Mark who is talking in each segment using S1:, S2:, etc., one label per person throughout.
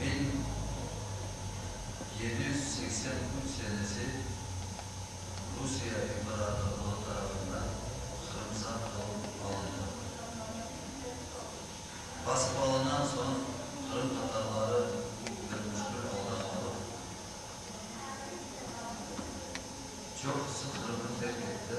S1: Men yedi yüz seksen üç senesi Rusiye İmparatorluğı tarafından Qırımsa qılıp alındım. Basıp alınan soñ qırımtatarları bir müşkül alda qalıp, çoqusı Qırımnı terk etti.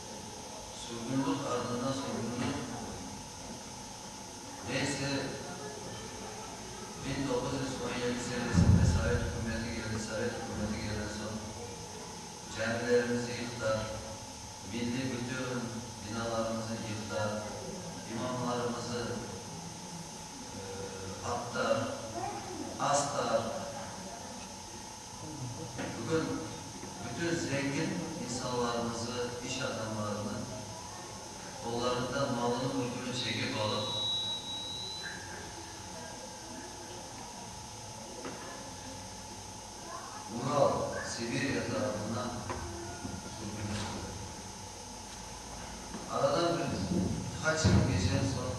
S1: Sürgünlik ardında sürgünlik, neyse, biñ doquz yüz on yedi senesinde sovet ükümeti keldi, sovet ükümeti kelden soñ camilerimizni yıqtıar, milliy bütün binalarımıznı yıqtıar, imamlarımızı attıar, astıar. Bugün bütün zengin insanlarımızı, iş adamlarını qollarında malını, mülkünü çekip alıp, Ural, Sibirya tarafına sürgünlendi. Aradan bir qaç yıl keçen soñ,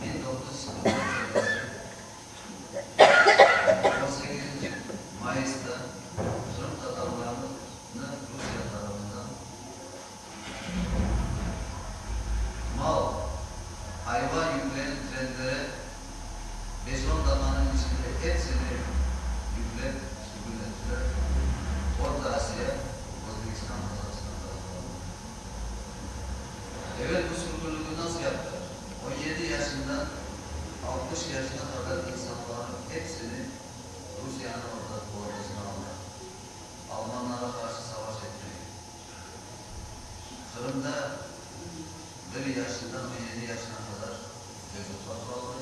S1: biñ doquz yüz qırq dörtünci yıl sekizinci mayısta qırımtatarlarnı Rusiye tarafından mal, ayva yükleyen trenlere beş-on daqanıñ içinde epsini yüklep sürgün ettiler Orta Asiya, Özbekistan, Qazaqstan taraflarına. Evel bu sürgünligi nasıl yaptılar? On yedi yaşından altmış yaşına qadar insanlarnıñ hepsini Rusiyanıñ ordasına almaq, almanlara qarşı savaş etmege, Qırımda bir yaşından on yedi yaşına qadar çocuklar qaldı.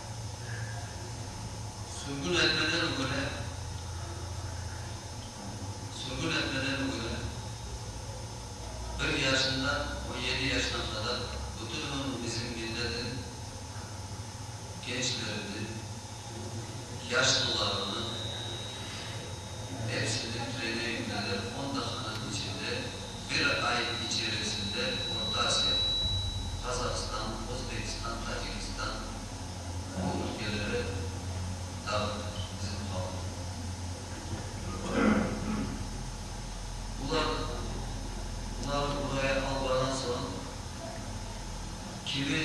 S1: Sümbül epeden öle, Sümbül epeden öle, Bir yaşından on yedi yaşına qadar bütün ömür bizim milletin gençleriniñ, yaşlılarınıñ epsini treneyingleri on dahanıñ içinde bir ay içerisinde Orta Asiya, Qazahstan, Özbekistan, Tacikistan, bu ülkeleri dağıtır, bizim halqı. Bular, bular buraya alğanan soñ, kimi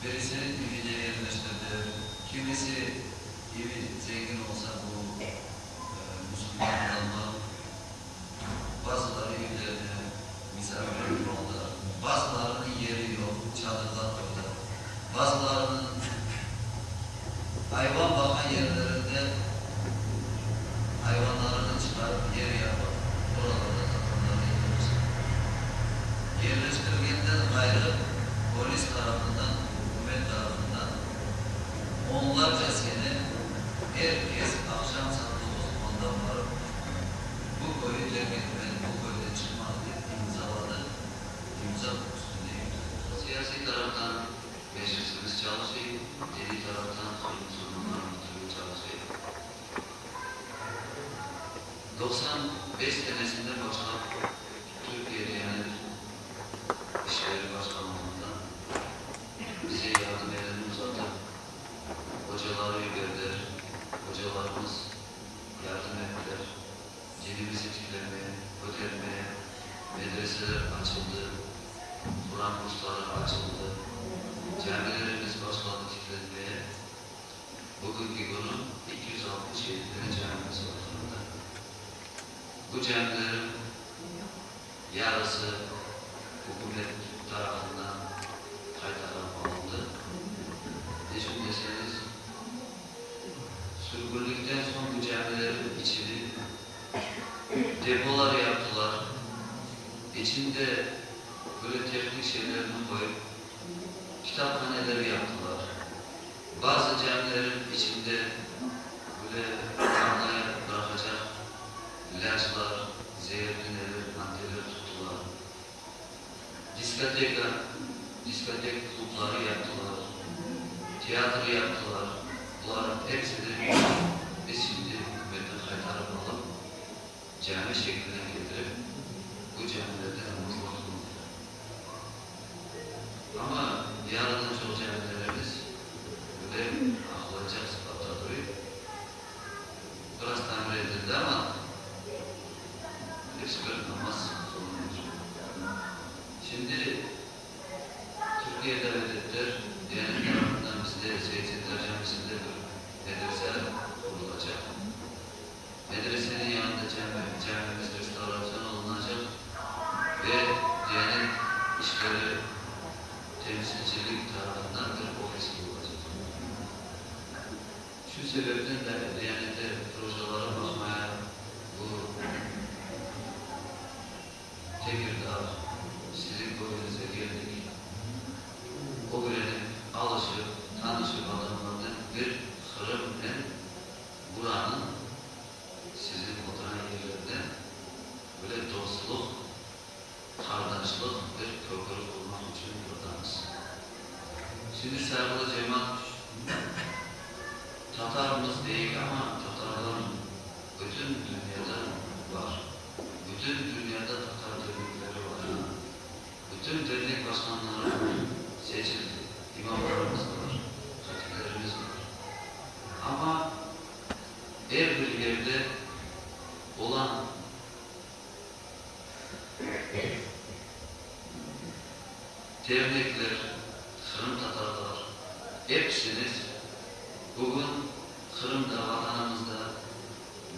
S1: birisi evine yerleştirdi, kimisi evi zengin olsa, bu musulman adamlar, Bazıları üylerine misafir oldı, bazılarını yeri yoq çadırda qoydı, bazılarını ayvan baqan yerlerinde ayvanlarını çıqarıp yer yapıp oralarda tatamlarda yerleştirdi. Yerleştirgenden ğayrı polis tarafından, ükümet tarafından onlarca sene er kes aqşam saat doquz onda barıp, Bu köyü terk etmeli, bu köyden çıqmalı dep imzaladı, imza üstünde imza. Siyasiy taraftan becersiniz çalışıy, diniy taraftan halq musulmanlarınıñ tübü çalışıy. Doqsan bes senesinden başlap Türkiye diyanet işleri başlanğanından bize yardım elini uzatıp, ocaları yiberdiler, ocalarımız, yardım ettiler, dinimiz etiklerine, kötermeye medreseler açıldı, Quran kursları açıldı, camilerimiz başladı tiklenmeye, bugünki künü eki yüz altmış yedi tane camimiz var Qırımda. Bu camilerim. Yarısı ükümet tarafından qaytarılıp alındı. Neçün deseñiz, sürgünlikten soñ bu camilerniñ içini depolar yaptılar, içinde böyle tehnik şeylerni qoyıp, kitaphaneler yaptılar. Bazı camilerniñ içinde böyle arnayı bıraqacaq. İlâclar, zeertünevi maddeler tuttılar. Diskoteka, diskotek klubları yaptılar, teatr yaptılar. Bularnıñ episi de biz şimdi ükümetten qaytarıp alıp, cami şekline ketirip, bu camilerde namazlar qılındı. Amma yarıdan çoq camilerimiz bugün aqlaycaq sıpatta duruy. Biraz tamir etildi, amma hepsi bir Hamas zulumına çevirildi. Şimdi Türkiye davet ettiler, Diyanet tarafından bizde Seyyid Settar Camisinde bir medrese qurulacaq. Medresenin yanında cami, camimiz restavratsiyon olunacaq ve Diyanet işleri temsilcilik tarafından bir ofis qurulacaq. Şu sebepten de Diyanete projaları baqmaya bu Tekirdağ, sizin köyüñizge keldik. Ögrenip, alışıp, tanışıp adamlarnen bir Qırımnen buranıñ, sizin oturan yerlerden böyle dostluq, Qardaşlıq bir köpürü qurmaq içün yordamız. Şimdi Sayırlı cemaat Tatarmız deyik, amma Tatarlar bütün dünyada bar. Bütün dünyada Tatar dernekleri bar. Bütün dernek başqanları bar, seçildi, imamlarımız bar, hatiplerimiz bar. Amma er bir yerde olan. Dernekler, qırımtatarlar, epsiniz bugün Qırımda, Vatanımızda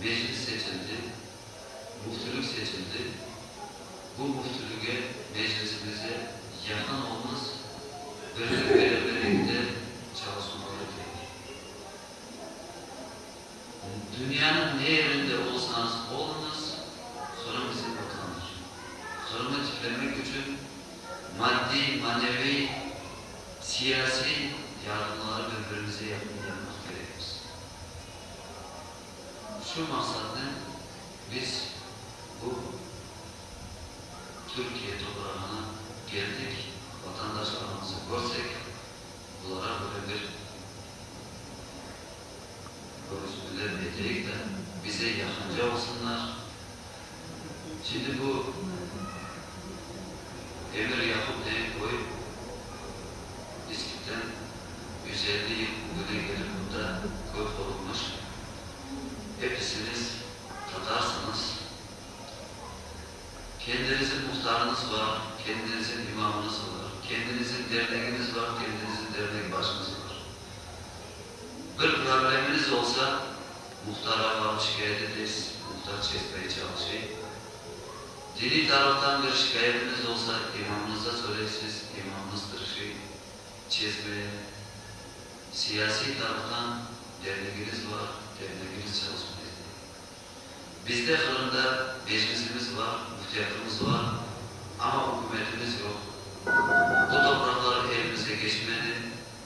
S1: Meclis seçildi, Müftülük seçildi. Bu Müftülüge, Meclisimize yaqın olmız, birlik-bereberlikte çalışmaları kerek. Dünyanıñ ne yerinde olsañız oluñız, Qırım bizim Vatanımız. Qırımı tiklemek içün maddiy, maneviy, siyasiy yardımları bir-birimizge yaqın yapmaq kerekmiz. Şu maqsatnen biz bu Türkiye toprağına keldik, vatandaşlarımızı körsek, bulara böyle bir. Rus tilini bildirik de, bize yaqınca olsunlar. Şimdi bu Emir Yaqup degen köy İskipten yüz elli yıl ögüne kelip bunda köy qurulmış. Episiniz tatarsınız. Kendinizin muhtarınız bar, kendinizin imamınız bar, kendinizin derneginiz bar, kendinizin dernek başınız bar. Bir probleminiz olsa, muhtara barıp şikâyet etesiz, muhtar çezmege çalışay. Diniy taraftan bir şikâyetiniz olsa, imamnızda söyleysiz, imamnız tırışay çezmeye. Siyasiy taraftan dernegiñiz bar, dernegiñiz çalışmay izley. Bizde Qırımda Meclisimiz bar, Müftiyatımız bar, amma ükümetimiz yoq. Bu topraqlar elimize keçmedi,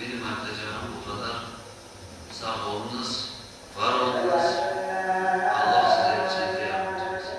S1: Benim aytacağım bu qadar. Sağ olunız, var olunız. Alloh sizlerge sehte yardımcı olsun.